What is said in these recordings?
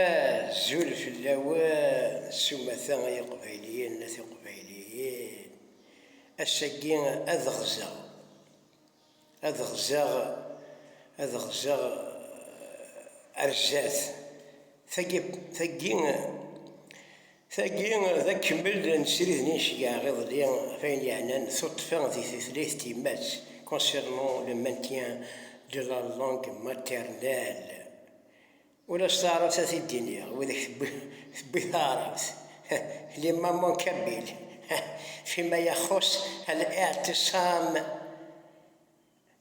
Azul fell-awen s umata ay iqbayliyen a tiqbayliyin, ass-agi ad ɣzeɣ, ad ɣzeɣ, ad ɣzeɣ ar zdat, tagi, tagi, Tagi d akemmel n srid n yinceggaɣ iḍelli ɣef ayen yeɛnan tuṭṭfa di tutlayt n tyemmat, concernant le maintien de la langue maternelle. Ula s taɛrabt ad t-id-iniɣ, wid i k-tewwi taɛrabt, les mamans kabyles, fima yaxus al-i'tisam.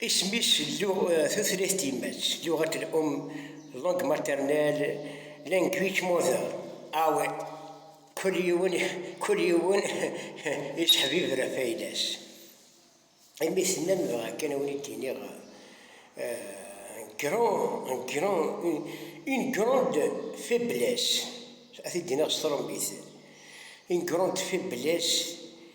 Isem-is Tutlayt timmad, Luɣat l-um, langue maternelle, language mother, aw kull yiwen kull yiwen yettḥebiber ɣef ayla-s. Imi tennam dɣa kan ad wen-id-iniɣ grand, un grand, une grande faiblesse, ad t-id-iniɣ s trumbit, une grande faiblesse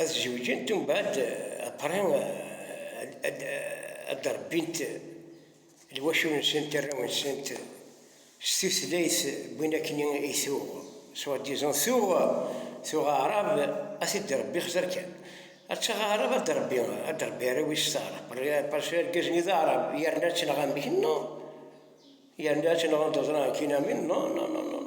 ad zewǧent umbeɛd après ad d-rebbint lwacul-nsent, arraw-nsent s tutlayt wwin akkenni i tuɣ soit disant tuɣ tuɣ aɛrab ad t-id-rebbi xzir kan ad taɣ aɛrab ad d-rebbi ad d-rebbi arraw-is s taɛrabt parce que argaz-nni d aɛrab yerna ad tenɣ amek non yerna ad tenɣ anda ẓran akkin amin non non non non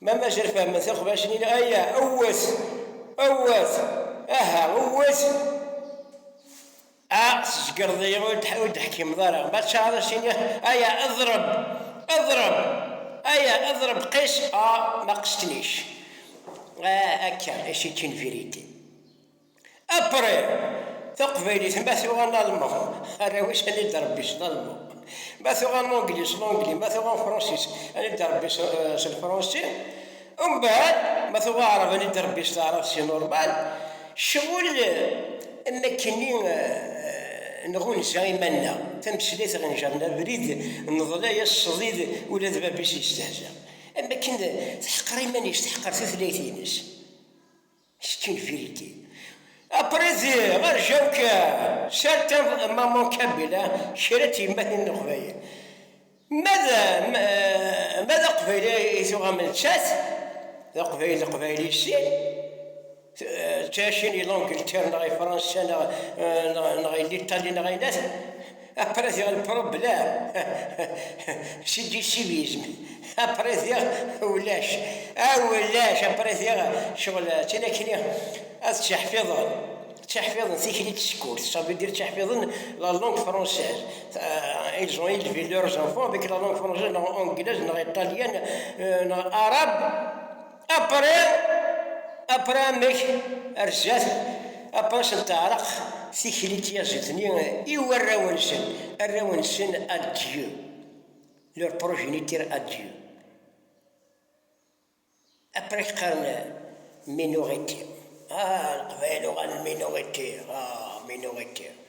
Ma mazal fehhmen tiqbacin-nni, aya, wwet, wwet, aha, wwet, a, tzeggreḍ-iyi, ur d-teḥkimeḍ ara, ma tcaɛreḍ ad s-tiniḍ, aya, eḍreb, eḍreb, aya, eḍreb, qis, a, ma qesṭnic, a, akka, i si-tt-in vérité. Apre, taqbaylit ma tuɣ analman, arraw-is anid rebbi s lalman, ma tuɣ anangli s langli, ma tuɣ anfransis anid rebbi s lfransi, umbɛad ma tuɣ aɛrab anid rebbi s taɛrabt si normal, cɣel am wakken-nni nɣunza iman-nneɣ, tameslayt ɣenjer-n abrid, neḍla-yas ṣdid ula d bab-is yestehza, am wakken teḥqer iman-is, teḥqer tutlayt-ines. Kečč n Vilki. Aprizi, rjaw kan! Sertev Maman Kamila, kra n tyemmatin n Leqbayel. Ma d, ma d Aqbayli i tuɣam nettat, d Aqbayli d Aqbayli i sin, d tacini Langleterre neɣ i Fransa neɣ, neɣ i Litali neɣ i nas, Après diɣ lpṛoblam, si d-issivism, après diɣ ulac, ah ulac, après diɣ ccɣel d tin akken i ad ţţiḥfiḍen, ţţiḥfiḍen tikli n tsekkurt, ça veut dire ţţiḥfiḍen la langue française, ils ont élevé leurs enfants avec la langue française, neɣ anglaise, neɣ iṭalyan, neɣ arabe. Apri, apri amek ar zdat, apri s n teɛreq tikli n tyaziḍt-nni i warraw-nsen, arraw-nsen à Dieu, leur progéniture à Dieu. Apri qqaren minorité, ah Leqbayel uɣalen minorité, ah minorité.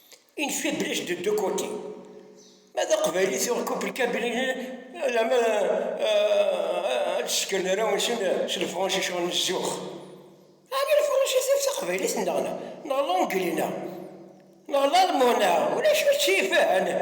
Une faiblesse de deux côtés. Ma d aqbayli tuɣ kubrikabrili alama ad d-sken ara unsen s lefransis ɣer zzux. Ɛni lefransis d taqbaylit neɣ neɣ l'anglais neɣ neɣ l'allemand neɣ ulac ur ttifahanen.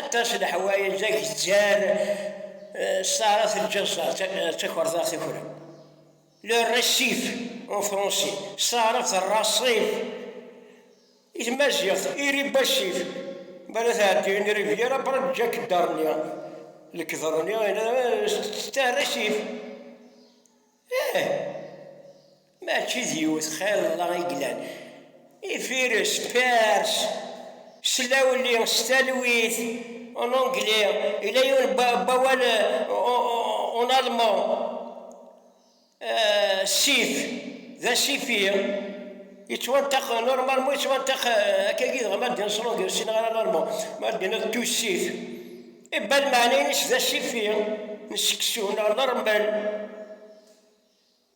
Aṭas n leḥwayeǧ ay yeǧǧan Sara Telǧaẓa d takerḍart akk-a. Le récif, en français, Sara d rrasif, i tmaziɣt, iribasif, bala tɛeddi n rivière après Jack Darnier, lekder-nni, c'est un récif. Ih, mačči d yiwet xilla i yellan, Ifires, Pers, s lawli, s talwit, en anglais, yella yiwen n wawal en allemand, sif, d asifi, yettwanṭaq, normalement yettwanṭaq akkagi, dɣa ma d-nṣeḍ ur ssineɣ ara l'allemand, ma d-niniḍ tu sif. Ibbal meɛna-ines d asifi n seksu neɣ n rrmel,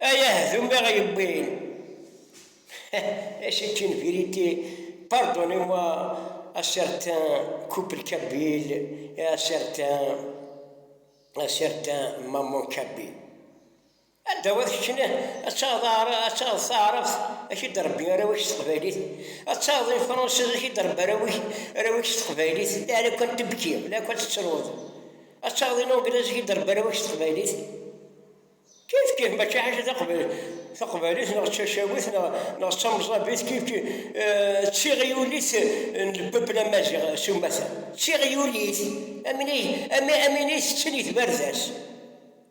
ay ahdum i ɣ-yewwin. Et c'est une vérité, pardonnez-moi à certains couples kabyles et à certains à certains mamans kabyles. Adaw ad keččen, ad taɣeḍ ad taɣeḍ taɛrabt, ad k-id-rebbi arraw-ik s teqbaylit, ad taɣeḍ lefransez, ad k-id-rebbi arraw-ik arraw-ik s teqbaylit, la la kan tebki, la kan tettruḍ, ad taɣeḍ ilanglez, ad k-id-rebbi arraw-ik s teqbaylit, kif kif mačči ḥaca taqbaylit neɣ d tacawit neɣ d tamẓabit, kif kif d tiɣyulit n lpepl amaziɣ s umata, d tiɣyulit, am win i tetten i tbarda-s.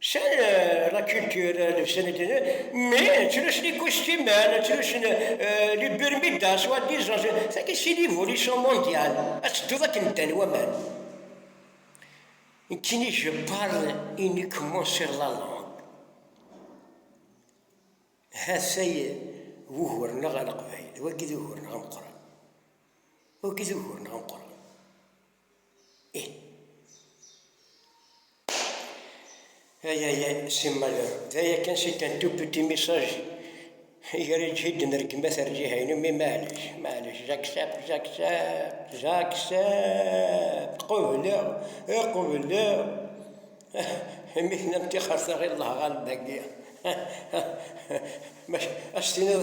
Sen rakiltir senedini me çiliş li kustimen, çiliş li birmida, swa dizaj, tagi si l'évolution mondiale, ad tedduḍ akken ddan waman. Kini je parle uniquement sur la langue. Hatay wugur-nneɣ aleqbayli, wagi d ugur-nneɣ ameqqran. Wagi d ugur-nneɣ ameqqran. Ay ay ay si malheur d aya kan c'est un tout petit message i ara id-ǧhiden ar gma terǧiha-inu mais maɛlic maɛlic j'accepte j'accepte j'accepte qubleɣ i qubleɣ imi tennam tixxert aɣ i lleh ɣallen dagi maca as-tiniḍ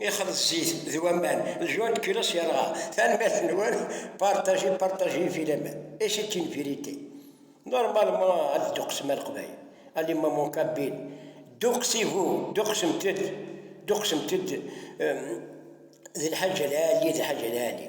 ixleḍ zzit d waman, ljon de culotte yerɣa. Tanemmirt-nwen, partagez, partagez filaman. Et c'est une vérité. Normalement ad dduqsem a Leqbayel, a l'imam Kabin, dduqsivu, dduqsemt-d, dduqsemt-d d Lḥaǧ Al Ɛali, d Lḥaǧ Al Ɛali.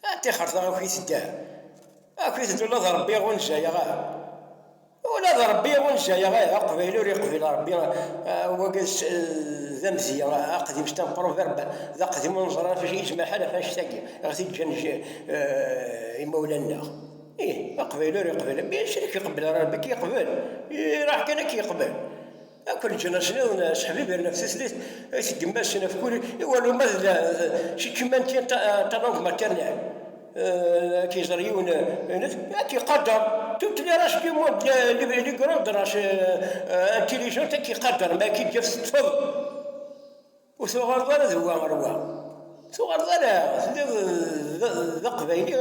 A tixret a akk-it dda, akk-it dda ula d Rebbi ur njayaɣ ara, ula d Rebbi ur njayaɣ ara, Aqbayli ur yeqbil Rebbi, wagi d amedya aqdim c'est un proverbe, d aqdim ur neẓri ɣef acu yezmer lḥal ɣef annect-agi i ɣ-t-id-ǧǧan imawlan-nneɣ, ih Aqbayli ur yeqbil, maca ur k-iqebbel ara Rebbi, ad k-yeqbel, iruḥ kan ad k-yeqbel. Akk leǧnas-nniḍen sseḥbiben ɣef tutlayt i tgemma-sen ɣef wul i waluma d cikemma n tin talangue maternelle ad k-iẓer yiwen ad k-iqader tutlayt race du monde les grandes races intelligentes ad k-iqader ma ad k-id-yaf teṭṭfeḍ. Ur tuɣaleḍ ara d wa ɣer wa. Tuɣaleḍ ala, telliḍ d aqbayli,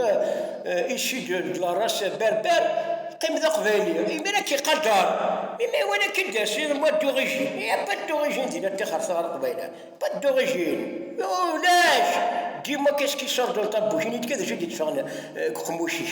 ici de la race berber, qqim d aqbayli. Imir ad k-iqader, imi iwala akka i d-as, il moi d'origine, il n'y a pas d'origine di la tixret ɣer Leqbayel, pas d'origine, ulac, dis-moi qu'est-ce qui sort dans ta bouche, ini-d kan d acu i d-itteffɣen deg uqemmuc-ik.